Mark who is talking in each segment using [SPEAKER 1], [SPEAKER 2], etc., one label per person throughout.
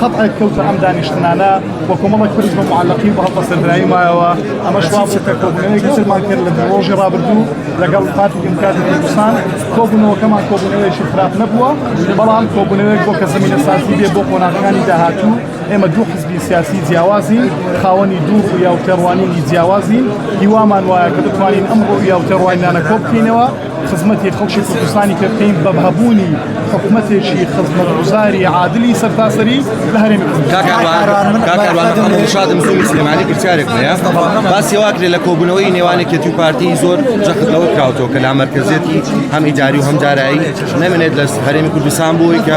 [SPEAKER 1] قەتعێک کەوتە ئەم دانیشتنانە و کۆمەڵێک پرس بە معلقی بە هەڵبە سەرایی مایەوە ئەمە شوابوو کە کۆبوونەوەی گەسرمان کرد لە ڕۆژی ڕابردوو لەگەڵ پارتی دیموکراتی کوردستان کۆبوونەوەکەمان کۆبوونەوەیەکی خراپ نەبووە بەڵام کۆبوونەوەێک بۆ کە زمینە سازی بێ بۆ قۆناغەکانی داهاتوو ئێمە دوو حزبی سیاسی جیاوازی خاوەنی دوو یا و تێڕوانینی جیاوازی هیوامان وایە کە بتوانین ئەم ڕوویا و تێڕوانینانە کۆبکەینەوە خزمەتی خەڵکی کوردستانی کە بکەین بە هەبوونی حکومەتێکی خزمەتگوزاری عادلی سەرتاسەری لە هەرێمی
[SPEAKER 2] کوردستانشادم زۆری سلێمانی پرسیارێک هەیە باسی واکرێ لە کۆبوونەوەی نێوانێکێتی و پارتی زۆر جەختەوە کراوتەوە کە لا مەرکزێتی هەم ئیداری و هەم دارایی نەمێنێت لە هەرێمی کوردستان بووی کە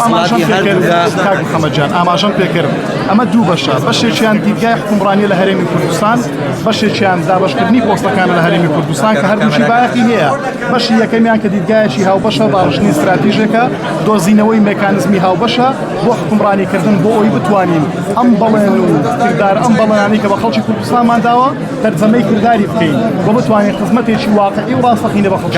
[SPEAKER 2] وڵاتی هەردوودا محەممەجان
[SPEAKER 1] ئاماژەم پێکرد ئەمە دوو بەشە بەشێکیان دیدگای حکومڕانی لە هەرێمی کوردستان بەشێکیان دابەشکردنی پۆستەکانە لە هەرێمی کوردستان کە هەردووشی بایەخی هەیە بەشی یەکەمیان کە دیدگایەکی هاوبەشە باڕشتنی استراتیژێکە دۆزینەوەی مکانزمی هاوبەشە بۆ حکومڕانیکردن بۆ ئەوی بتوانین ئەم بەڵێن و کردار ئەم بەڵێنانی کە بە خەڵکی کوردستانمان داوە تەرجەمەی کرداری بکەین بۆ بتوانین خزمەتێکی واقعی و ڕاستەقینە بە خەڵکی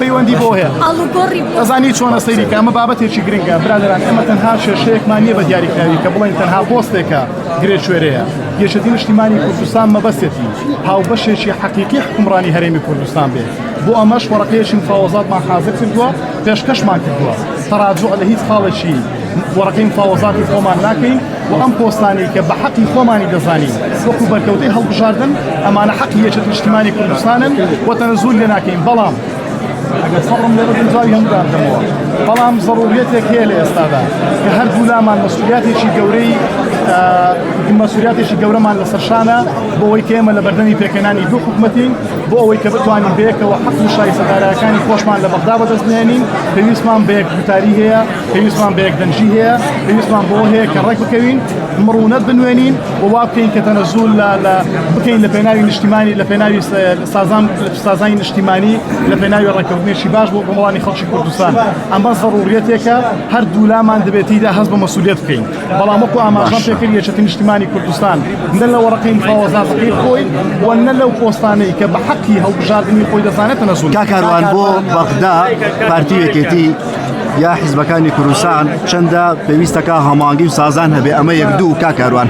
[SPEAKER 1] پەیوەندی بۆ هەیە ئەزانی چۆنە سەیری کامە بابەتێکی گرنگە برادران ئەمە تەنها شێشەیەکمان نییە بە دیاریکراوی کە بڵێن تەنها پۆستێکە گرێکوێرەیە یەکێتی نیشتیمانی کوردستان مەبەستێتی هاوبەشێکی حەقیقی حکومڕانی هەرێمی کوردستان بێت بۆ ئەمەش وەڕقەیەکی مفاوەزاتمان حازر کردووە پێشکەشمان کردووە تەراجوع لە هیچ خاڵێکی وەڕقی مفاوەزاتی خۆمان ناکەین و ئەم پۆستانی کە بە حەقی خۆمانی دەزانین وەکو بەرکەوتەی هەڵبژاردن ئەمانە حەقی یەکێتی نیشتیمانی کوردستانن و تەنەزول لێ ناکەین بەڵام ئەگەر سەبرم لێ بکەم جوابی هەموو دادەمەوە بەڵام زەڕوریەتێک هەیە لە ئێستادا کە هەردوو لامان مەسولیاتێکی گەورەی مەسولیاتێکی گەورەمان لەسەر شانە بۆ ئەوەی کە ئێمە لە بەردەمی پێکەنانی دوو حکوومەتین بۆ ئەوەی کە بتوانین بەیەکەوە حەق و شایستەدارەکانی خۆشمان لە بەغدا بەدەستێنین پێویستمان بە یەک گوتاری هەیە پێویستمان بە یەک دەنجی هەیە پێویستمان بۆ هەیە کە ڕێک بکەوین مڕونەت بنوێنین و وا بکەین کە تەنەزول لە بکەین لە پێناوی نیشتیمانی لە پێناوی سازان سازانی نشتیمانی لە پێناوی ڕێککەوتنێکی باش بۆ گوڵانی خەڵکی کوردستان ئەمە زەڕوریەتێکە هەر دوولامان دەبێتیدا هەست بە مەسوولێت بکەین بەڵام وەکو ئاماژان پێکرد یەکەتی نیشتیمانی کوردستان نە لە وەڕقی مفاوەزاتەکەی خۆی و نە لەو پۆستانەی کە بە حەقی هەڵبژاردننی خۆی دەزانێت نەزول کاکاروان بۆ
[SPEAKER 3] بەغدا پارتی یەکێتی یا حیزبەکانی کوردستان چەندە پێویستەکە هەمانگی و سازان هەبێ ئەمە یەک دوو کاکاروان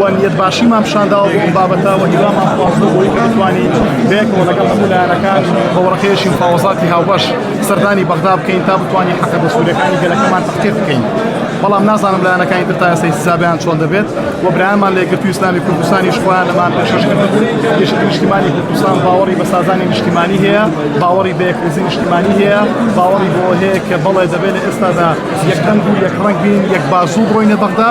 [SPEAKER 1] وەنیەت باشیمان پیشانداوە بۆ ئەم بابەتە و هیوامان خواستوە بۆی بتوانین بەیەکەوە لەگەڵ هەموو لایەنەکان هەوڕەکەیەکی مفاوەزاتی هاوبەش سەردانی بەغدا بکەین تا بتوانین حەقە دەستورەکانی گەلەکەمان تەحقیق بکەین بەڵام نازانم لایەنەکانی تر تا ئێستا حسابیان چۆن دەبێت و برایانمان لێگرتوی ئیسلامی کوردستانیش خۆیان لەمان پێشکەش کردبوو گەشت نیشتیمانی کوردستان باوەڕی بە سازانی نیشتیمانی هەیە باوەڕی بە یەکرزی نیشتیمانی هەیە باوەڕی بۆ هەیە کە بەڵێ دەبێت لە ئێستادا یەکدەنگ و یەک ڕەنگ بین یەک بازوو بڕۆینە بەغدا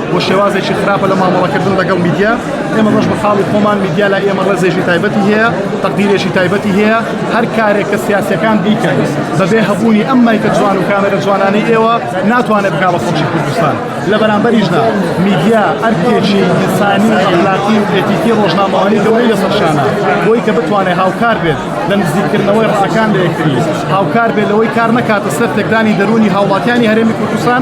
[SPEAKER 1] بۆ شێوازێکی خراپە لە مامەڵەکردن لەگەڵ میدیا ئێمە ڕۆژ بە خاڵی خۆمان میدیا لە ئێمە ڕێزێکی تایبەتی هەیە تەقدیرێکی تایبەتی هەیە هەر کارێک کە سیاسەکان بیکەن بەبێ هەبوونی ئەم مایکە جوان و کامێرە جوانانەی ئێوە ناتوانێت بکا بە خەڵکی کوردستان لە بەرامبەریشدا میدیا ئەرکێکی ئینسانی و ئەخلاقی و ئێتیکی ڕۆژنامەوانی گەورەی لەسەر شانە بۆی کە بتوانێت هاوکار بێت لە نزیککردنەوەی ڕاکان لە یەکتری هاوکار بێت لەوەی کار نەکاتە سەر تێکدانی دەروونی هاوڵاتیانی هەرێمی کوردستان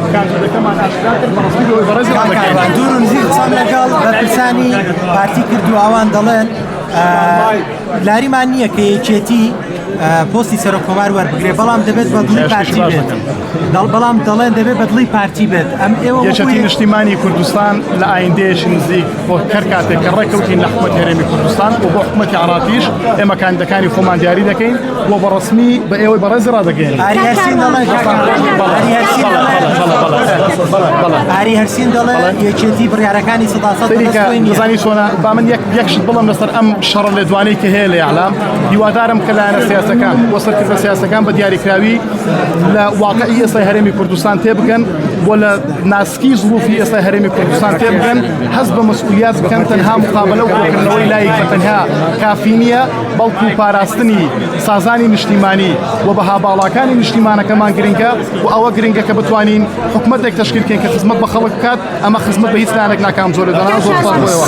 [SPEAKER 1] کاندیدەکەمان ئاشکرا کرد بە ڕەسمی لەوەی بەڕێزی ڕادەکەین. دوورم زیر
[SPEAKER 4] قسەم لەگەڵ بەرپرسانی پارتی کرد و ئەوان دەڵێن لاریمان نییە کە یەکێتی پۆستی سەرۆک کۆمار وەربگرێ بەڵام دەبێت بەدڵی پارتی بێت دەڵ بەڵام دەڵێن دەبێت بەدڵی پارتی بێت ئەم ئێوە یەکێتی نیشتیمانی
[SPEAKER 1] کوردستان لە ئایندەیەش نزیک بۆ کەر کاتێک کە ڕێککەوتین لە حکومەت هەرێمی کوردستان و بۆ حکومەتی عراقیش ئێمە کاندەکانی خۆمان دیاری دەکەین بۆ بە ڕسمی بە ئێوەی بەڕێزی ڕادەگەێن ئاری هەرسین
[SPEAKER 4] دەڵێ یەکێتی بڕارەکانی سەداسەزانی چۆنا
[SPEAKER 1] با من یەکشت بڵم لەسەر ئەم شەڕ لە دوانەی کە هەیە لە یاعلام هیوادارم کە لایەنە سیاسەکان بۆ سەرکردە سیاسەکان بە دیاریکراوی لە واقعی ئێسای هەرێمی کوردستان تێ بکەن بۆ لە ناسکی زڵوفی ئێسای هەرێمی کوردستان تێ بکەن هەز بە مەسئولیات بکەن تەنها مقابلە و کۆکردنەوەی لایک بە تەنها کافی نییە بەڵکو پاراستنی سازانی نیشتیمانی و بەها باڵاکانی نیشتیمانەکەمان گرنگە و ئەوە گرنگە کە بتوانین حکومتێک تشکیلکەین کە خزمەت بە خەڵک بکات ئەمە خزمەت بە هیچ لایەنێک ناکام زۆر دەنا زۆر بۆەوە.